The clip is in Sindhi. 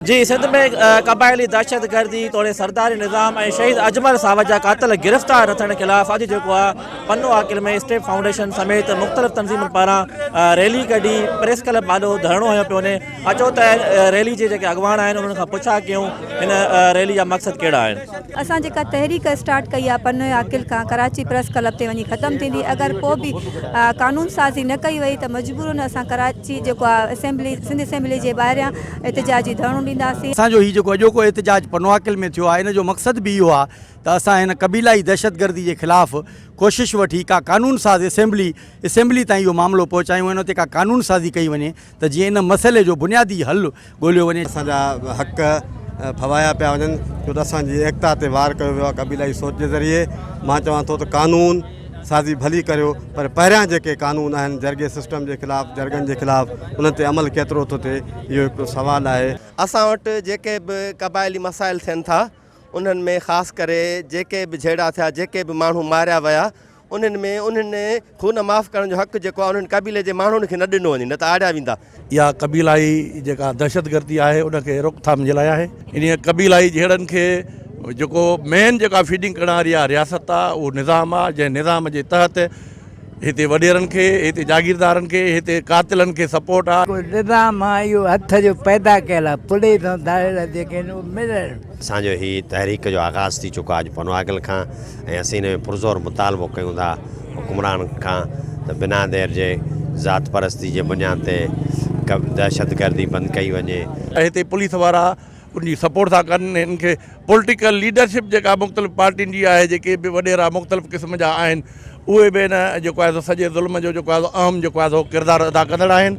جي سنڌ ۾ قبائلي دهشتگردي توڙي سرداري نظام ۽ شهيد اجمل ساوت جا قاتل گرفتار نه ٿيڻ خلاف اڄ جيڪو آ پنو عاقل ۾ اسٽيپ فائونڊيشن سميت مختلف تنظيمن پاران ريلي ڪڍي پريس ڪلب آڏو ڌرڻو هنيو پيو وڃي اچو ته ريلي جي جيڪي اڳواڻ آهن انهن کان پڇا ڪيون هن ريلي جا مقصد ڪهڙا آهن اسان جيڪا تحريڪ اسٽارٽ ڪئي آ پنو عاقل کان ڪراچي پريس ڪلب تي وڃي ختم ٿيندي اگر پو به قانون سازي نه ڪئي وئي ته مجبورن اسان ڪراچي جيڪو آ اسيمبلي سنڌ اسيمبلي جي ٻاهريان احتجاجي ڌرڻو ڏينداسين. اسان جو هي جيڪو اڄوڪو احتجاج پنواڪل ۾ ٿيو آهي ان جو مقصد به اهو آهي ته اسان هن قبيلائي دهشتگردي جي خلاف ڪوشش وٺي ڪا قانون ساز اسيمبلي اسيمبلي تائين اهو معاملو پهچايون ۽ ان تي ڪا قانون سازي ڪئي وڃي ته جيئن ان مسئلي جو بنيادي حل ڳوليو وڃي. اسان جا حق ڦوايا پيا وڃن ڇو ته اسان جي ايڪتا تي وار ڪيو ويو آهي قبيلائي سوچ جي ذريعي مان چوان ٿو ته قانون. سازي ڀلي ڪريو پر پهريان جيڪي قانون آهن جرڳي سسٽم جي خلاف جرڳن جي خلاف انهن تي عمل ڪيترو ٿو ٿئي اهو هڪڙو سوال آهي. اسان وٽ جيڪي به قبائلي مسائل ٿين ٿا انهن ۾ خاص ڪري جيڪي به جهيڙا ٿيا جيڪي به ماڻهو ماريا ويا انهن ۾ انهن خون معاف ڪرڻ جو حق جيڪو آهي انهن قبيلي جي ماڻهن کي نه ڏنو وڃي نه ته آڙيا ويندا اها قبيلائي جيڪا دهشتگردي آهي ان کي روڪٿام جي لاء آهي انهي قبيلائي جهيڙن کي جيڪو مين جيڪا فيڊنگ ڪرڻ واري اها رياست آهي اهو نظام آهي جنهن نظام جي تحت هتي وڏيرن کي هتي جاگيردارن کي هتي قاتلن کي سپورٽ آهي. نظام آهي اهو هٿ جو پيدا ڪيل آهي پوليس ۽ داڙيلا جيڪي آهن اهي ملڻ. اسان جو هي تحريڪ جو آغاز ٿي چڪو آهي اڄ پنو اگل کان ۽ اسين ان ۾ پرزور مطالبو ڪيون ٿا حڪمران کان ته بنا دير جي ذات پرستي جي بنياد تي دهشت گردي بند ڪئي وڃي. هتي پوليس وارا ان جي سپورٽ ٿا ڪن هن کي پولٽيڪل ليڊرشپ جيڪا مختلف پارٽين جي آهي جيڪي به وڏيرا مختلف قسم جا آهن اهي به هن جيڪو آهي سو سڄي ظلم جو جيڪو آهي سو اهم جيڪو آهي سو ڪردار ادا ڪندڙ آهن.